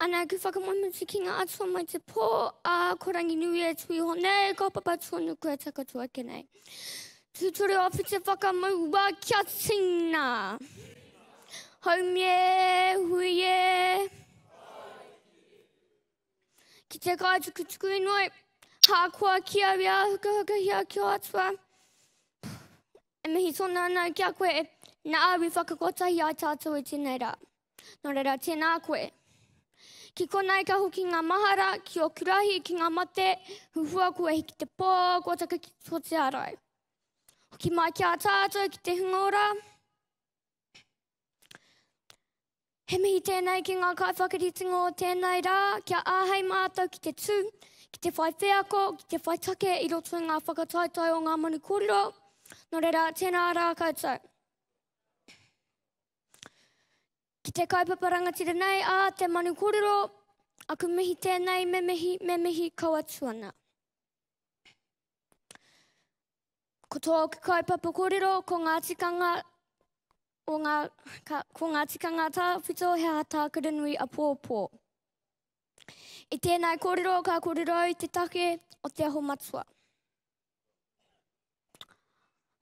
Ana ki whakamamuti ki ngā atua mai te pō, a ko Ranginui e tui ho nei, ka papa tonu kua takatu ake nei. Tūtore o Pite Whakamaua, kia tina! Haumie, huie! Ki te kai tuku tuku inoi, hākoa ki au i āhukahukahia ki o atua. E mihi tonu ana ki a koe, nā au i whakakotahi ai tātou i tēnei rā. Nō reira, tēnā koe. Ki konei ka hoki ngā mahara ki ōku rahi, ki ngā mate, huhua kua hiki te pō, kua taka ki tō te arai. Hoki mai ki a tātou ki te hunga ora. He mihi tēnei ki ngā kaiwhakaritinga o tēnei rā, kia āhei mātou ki te tū, ki te whai wheako, ki te whai take i roto i ngā whakataetae o ngā manu kōrero. Nō reira, tēnā rā koutou. Ki te kaupapa rangatira nei a te Manu Korero, aku mihi tēnei, me mihi, me mihi kau atu ana. Ko tōku kaupapa korero, ko ngā tikanga o ngā, ka, ko ngā tikanga tāwhito he aha tā Karanui a Pōpō. I tēnei korero ka korero i te take o te aho matua.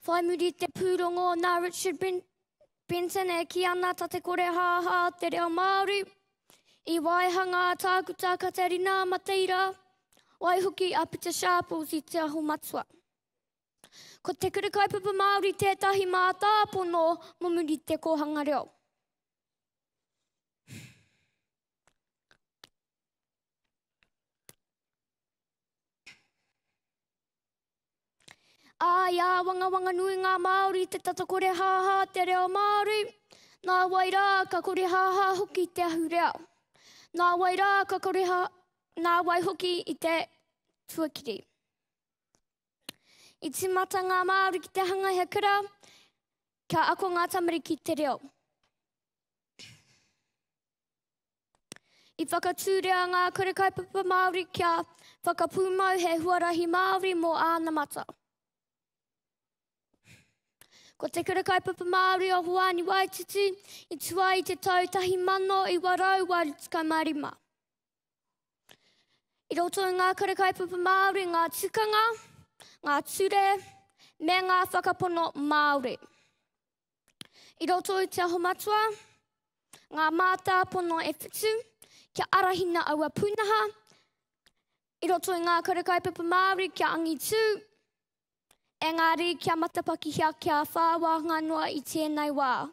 Whai muri i te pūrongo nā Richard Brent Benton e ki ana ta te kore haha o te reo Māori. I waihanga a Tākuta Katerina Mateira, waihoki a Peter Sharples i Te Aho Matua. Ko te kura kaupapa Māori tētahi mātāpono mo muri te kōhanga reo. Ā, i āwangawanga nui ngā Māori i te tata korehāhā a te reo Māori, nā wai rā ka korehāhā hoki te ahurea. Nā wai rā ka koreha, nā wai hoki i te tuakiri. I timata ngā Māori ki te hanga he kura, kia ako ngā tamariki te reo. I whakatūria ngā kura kaupapa Māori kia whakapūmau he huarahi Māori mō ānamata. Ko te kura kaupapa Māori o Hoani Waititi i tua i te tau 1985. I roto i ngā kura kaupapa Māori ngā tukanga, ngā ture me ngā whakapono Māori. I roto i Te Aho Matua, ngā mātāpono e whitu, kia arahina aua pūnaha, i roto i ngā kura kaupapa Māori kia angitū, engari kia matapakihia kia whā wāhanga noa i tēnei wā.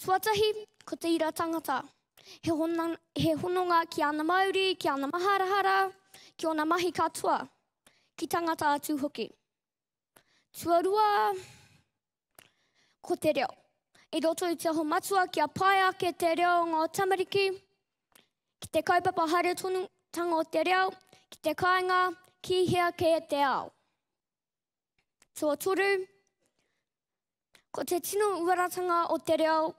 Tuatahi, ko te ira tangata. He, hona, he hononga ki ana mauri, ki ana maharahara, ki ona mahi katoa, ki tangata atu hoki. Tuarua, ko te reo. I roto i te aho matua kia pae ake te reo o ngā tamariki, ki te kaupapa haere tonu tanga o te reo, ki te kāinga, ki hea kē te ao. Tō toru, ko te tino uaratanga o te reo,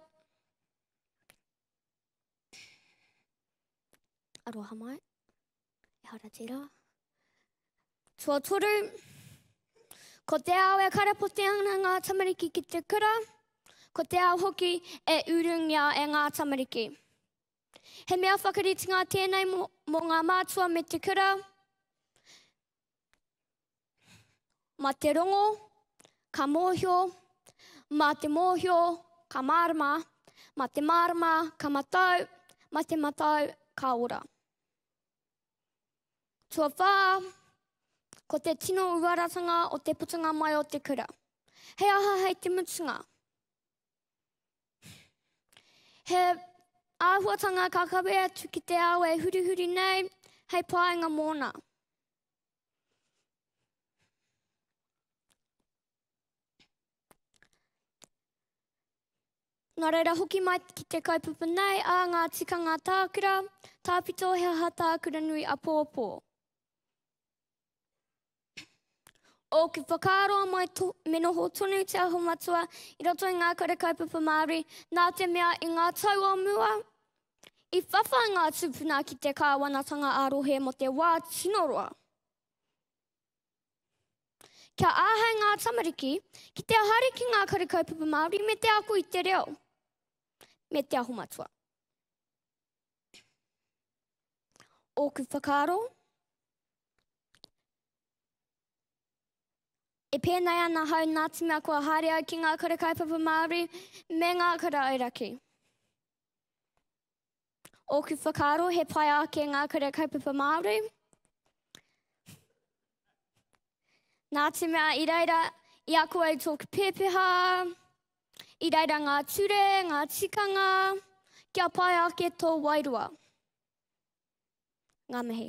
Aroha mai. Ehara tērā. Tuatoru. Ko te ao e karapote ana ngā tamariki ki te kura, ko te ao hoki e urungia e ngā tamariki. He mea whakaritinga tēnei mō, mō ngā mātua me te kura, Ma te rongo, ka mōhio, ma te mōhio, ka mārama, ma te mārama, ka matau, ma te matau, ka ora. Tuawhā, ko te tino uaratanga o te putunga mai o te kura. He aha hei te mutunga? He āhuatanga ka kawe atu ki te ao e hurihuri nei hei pāinga mōna. Nā reira hoki mai ki te kaupapa nei a ngā tikanga tākura, tāpito he aha tākura nui a pōpō. Ōku whakaaro mai to, me noho tonu te aho matua i roto i ngā kura kaupapa Māori, nā te mea i ngā tau o mua, i whawhai ngā tūpuna ki te kāwanatanga ā-rohe mo te wā tino roa. Kia āhei ngā tamariki ki te haere ki ngā kura kaupapa Māori me te ako i te reo, me te aho matua. Ōku whakaaro, E pēnei ana hau nā te mea kua haere au ki ngā kura kaupapa Māori me ngā kura auraki. Ōku whakaaro he pai ake ngā kura kaupapa Māori. Nā te mea i reira i ako au tōku pēpeha, I reira ngā ture, ngā tikanga, kia pai ake tō wairua. Ngā mihi.